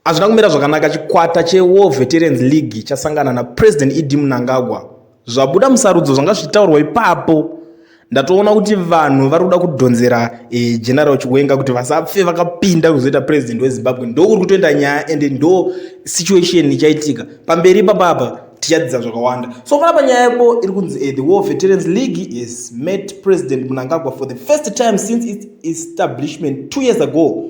Hazvina kumira zvakanaka chikwata cheWar Veterans League chasangana naPresident ED Mnangagwa. Zvabuda musarudzo zvanga zvichitaurwa ipapo. Ndatoona kuti vanhu vari kuda kudhonzera e, General Chiwenga kuti vasapfe vakapinda kuzoita president weZimbabwe. Ndokuri kutoenda nyaya and ndo situation ichaitika. Pamberi ipapapa tichadzidza zvakawanda. So panapa nyaya yako iri kunzi e, the War Veterans League has met President Mnangagwa for the first time since its establishment two years ago.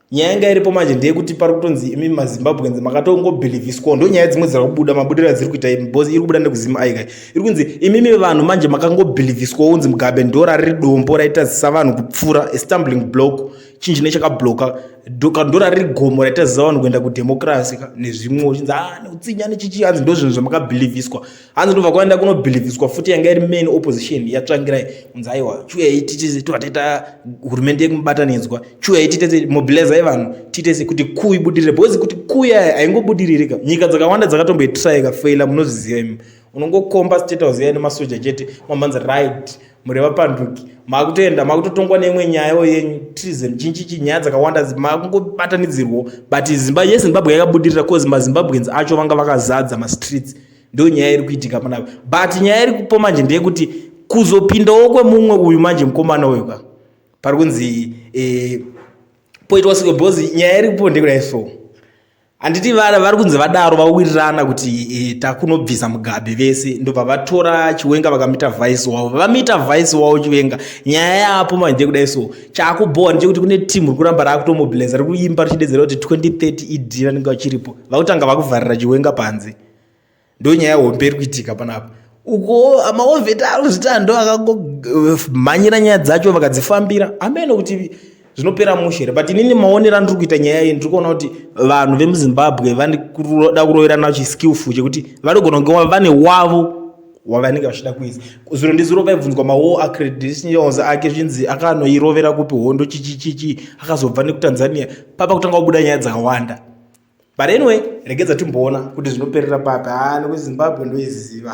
nyaya yanga iripo manje ndeyekuti pari kutonzi imi mazimbabweans makatongobhilivhiswa ndo nyaya dzimwe dziri kubuda mabudiro adziri kuita imi bcause iri kubuda nekuzim aika iri kunzi imimi vanhu manje makangobhilivhiswa unzi mugabe ndora riri dombo raitazisa vanhu kupfuura estumbling block chinhu chine chakabloka kandora riri gomo raitazisa vanhu kuenda kudemokirasi ka nezvimwe uchinzi a ah, neutsinya nechichi anzi ndo zvinhu zvamakabhilivhiswa hanzi ndobva kwaenda kunobhilivhiswa futi yanga iri main opposition yatsvangirai kunzi aiwa chiuyai titese tovataita hurumende yekumubatanidzwa chiuyai titese mobilizai vanhu titese kuti kuu ibudirire because kuti kuu yaya haingobudiririka nyika dzakawanda dzakatomboitraika faila munozviziva imi unongokomba state house yaya nemasoja chete mamhanzi right muri vapanduki makutoenda makutotongwa neimwe nyayawo yenyu treason chinchichi nyaya dzakawanda makungobatanidzirwo but zimba yezimbabwe yakabudirira bcause mazimbabweans acho vanga vakazadza mastreets ndo nyaya iri kuitika panapa but nyaya iri kupo manje ndeyekuti kuzopindawo kwemumwe uyu manje mukomana uyu ka pari kunzi eh, poitwa siko bhozi nyaya iri kupo ndekudai so handiti vana vari kunzi vadaro vawirirana kuti eh, takunobvisa mugabe vese ndobva vatora chiwenga vakamita vice wavo vamita vice wavo chiwenga nyaya yaapo manje ndekudai so chaakubhowa ndechekuti kune team rikuramba raakutomobiliza rikuimba richidedzera kuti 2030 idi e vanenge vachiripo vakutanga vakuvharira chiwenga panze ndonyaya hombe iri kuitika panapa uko maovheti aro zvitando akangomhanyira eh, nyaya dzacho vakadzifambira ameno kuti zvinopera mushe here but inini maonero andiri kuita nyaya iyi ndiri kuona kuti vanhu vemuzimbabwe vanoda kuroverana chiskillful chekuti vanogona kunge vane wavo wavanenge vachida kuisa zuro ndizuro vaibvunzwa mawo acredentials ake zvinzi akanoirovera kupi hondo chichichichi akazobva nekutanzania papa kutanga kubuda nyaya dzakawanda but anyway regedza timboona kuti zvinoperera papi haa nekuzimbabwe ndoiziva